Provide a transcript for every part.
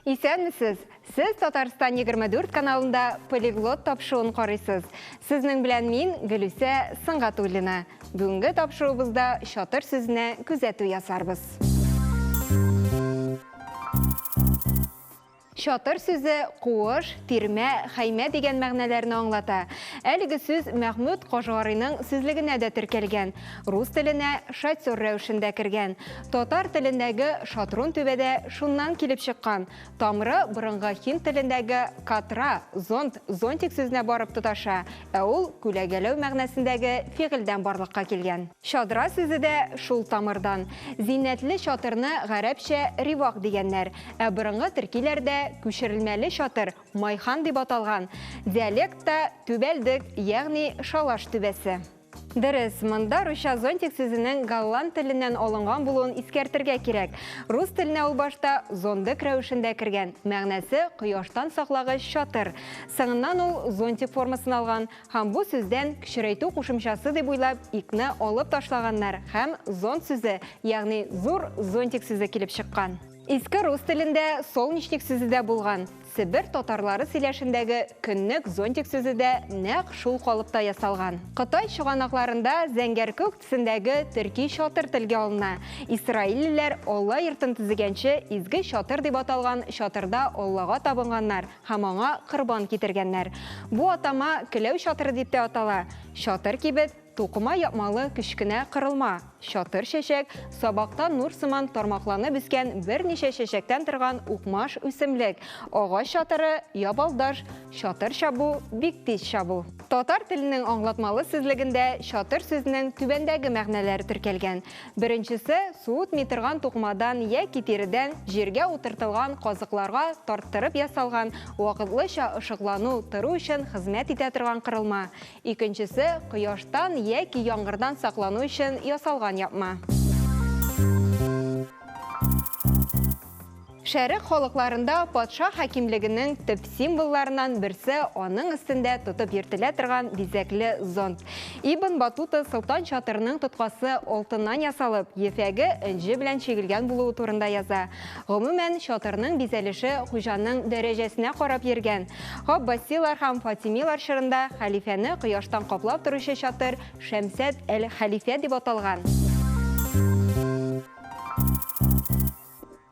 Исәнмесез! Сез Татарстан 24 каналында полиглот тапшыуын карыйсыз. Сезнең белән мин Гөлүсә Сыңгатуллина. Бүгенге тапшыруыбызда чатыр сүзенә күзәтү ясарбыз. Чатыр сүзе куыш, тирмә, хәймә дигән мәгънәләрне аңлата. Әлеге сүз Мәхмүт Кашгарыйның сүзлегенә дә теркәлгән, рус теленә шатер рәвешендә кергән. Татар телендәге шатрун түбә дә шуннан килеп чыккан, тамыры борынгы һинд телендәге катра, зонт, зонтик сүзенә барып тоташа, ә ул күләгәләү мәгънәсендәге фигыльдән барлыкка килгән. Чадра сүзе дә шул тамырдан. Зиннәтле чатырны гарәпчә ривак дигәннәр, ә борынгы төркиләрдә күчерелмәле чатыр майхан дип аталган, диалектта, түбәлдек, ягъни шалаш түбәсе. Дөрес, монда русча зонтик сүзенең голланд теленнән алынган булуын искәртергә кирәк. Рус теленә ул башта зондык рәвешендә кергән, мәгънәсе, кояштан саклагыч чатыр. Соңыннан ул зонтик формасын алган, Һәм бу сүздән кечерәйтү кушымчасы дип уйлап икне алып ташлаганнар һәм зонт сүзе, ягъни зур зонтик сүзе килеп чыккан. Иске рус телендә солнечник сүзе дә булган, себер татарлары сөйләшендәге көннек зонтик сүзе дә нәкъ шул калыпта ясалган. Кытай чыганакларында зәңгәркүк төсендәге төрки чатыр телгә алына, исраиллеләр Алла йортын төзегәнче изге чатыр дип аталган чатырда Аллага табынганнар, һәм аңа корбан китергәннәр. Бу атама Келәү чатыры дип тә атала. Чатыр кибет, тукыма япмалы кечкенә корылма. Чатыр чәчәк, сабактан нур сыман тармакланып үскән берничә чәчәктән торган укмаш үсемлек. Агач чатыры, ябалдаш, чатыр чабу, бик тиз чабу. Татар теленең аңлатмалы сүзлегендә чатыр сүзенең түбәндәге мәгънәләре теркәлгән, Беренчесе, суытмый торган тукымадан яки тиредән җиргә утыртылган казыкларга тарттырып ясалган вакытлыча ышыклану тору өчен хезмәт итә торган корылма, икенчесе, кояштан яки яңгырдан саклану өчен ясалган япма. Шәрык халыкларында патша хакимлегенең төп символларыннан берсе аның өстендә тотып йөртелә торган бизәкле зонт. Ибн Батута солтан чатырының тоткасы алтыннан ясалып, ефәге энҗе белән чигелгән булуы турында яза. Гомумән, чатырның бизәлеше хуҗаның дәрәҗәсенә карап йөргән. Габбасилар һәм фатимилар чорында хәлифәне кояштан каплап торучы чатыр Шәмсәт әл-Хәлифә дип аталган.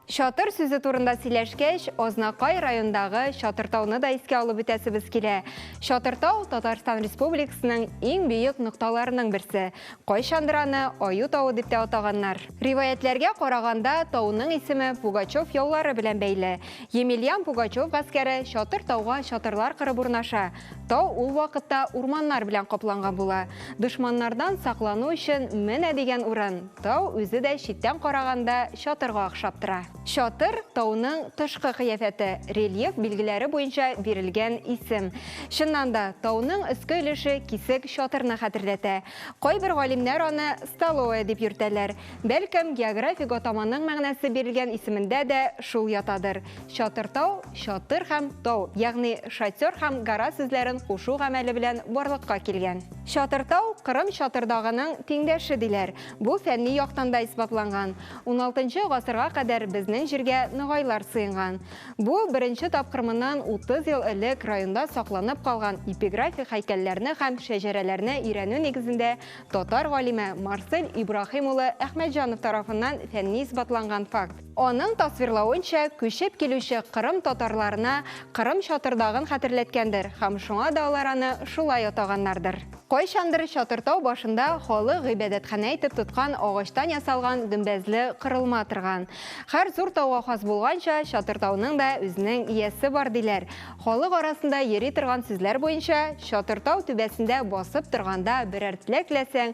Чатыр сүзе турында сөйләшкәч, Азнакай райондагы Чатыртауны да искә алып үтәсебез килә. Чатыртау Татарстан Республикасының иң бөек нокталарының берсе. Кайчандыр аны Аю тавы дип тә атаганнар. Риваятьләргә караганда, тауның исеме Пугачев яулары белән бәйле. Емельян Пугачев гаскәре Чатыртауга чатырлар кырып урнаша. Тау ул вакытта урманнар белән капланган була. Дошманнардан саклану өчен менә дигән урын. Тау үзе дә читтән караганда чатырга охшап тора. Чатыр, тауның тышкы кыяфәте, рельеф билгеләре буенча бирелгән исем. Чыннан да, тауның өске өлеше кисек чатырны хәтерләтә. Кайбер галимнәр аны столовая дип йөртәләр. Бәлкем, географик атаманың мәгънәсе бирелгән исемендә дә шул ятадыр. Чатыртау, чатыр һәм тау, ягъни шатер һәм гора сүзләрен кушу гамәле белән барлыкка килгән. Чатыртау, Кырым Чатырдагының тиңдәше, диләр. Бу фәнни яктан да исбатланган. Уналтынчы гасырга кадәр безнең җиргә ногайлар сыенган. Бу, беренче тапкыр моннан 30 ел элек районда сакланып калган эпиграфик һәйкәлләрне һәм шәҗәрәләрне өйрәнү нигезендә татар галиме Марсель Ибраһим улы Әхмәтҗанов тарафыннан фәнни исбатланган факт. Аның тасвирлавынча, күчеп килүче кырым татарларына Кырым Чатырдагын хәтерләткәндер һәм шуңа да алар аны шулай атаганнардыр. Кайчандыр Чатыртау башында халык гыйбадәтханә итеп тоткан агачтан ясалган гөмбәзле корылма торган. Һәр зур тауга хас булганча, Чатыртауның да үзенең иясе бар, диләр. Халык арасында йөри торган сүзләр буенча, Чатыртау түбәсендә басып торганда берәр теләк теләсәң,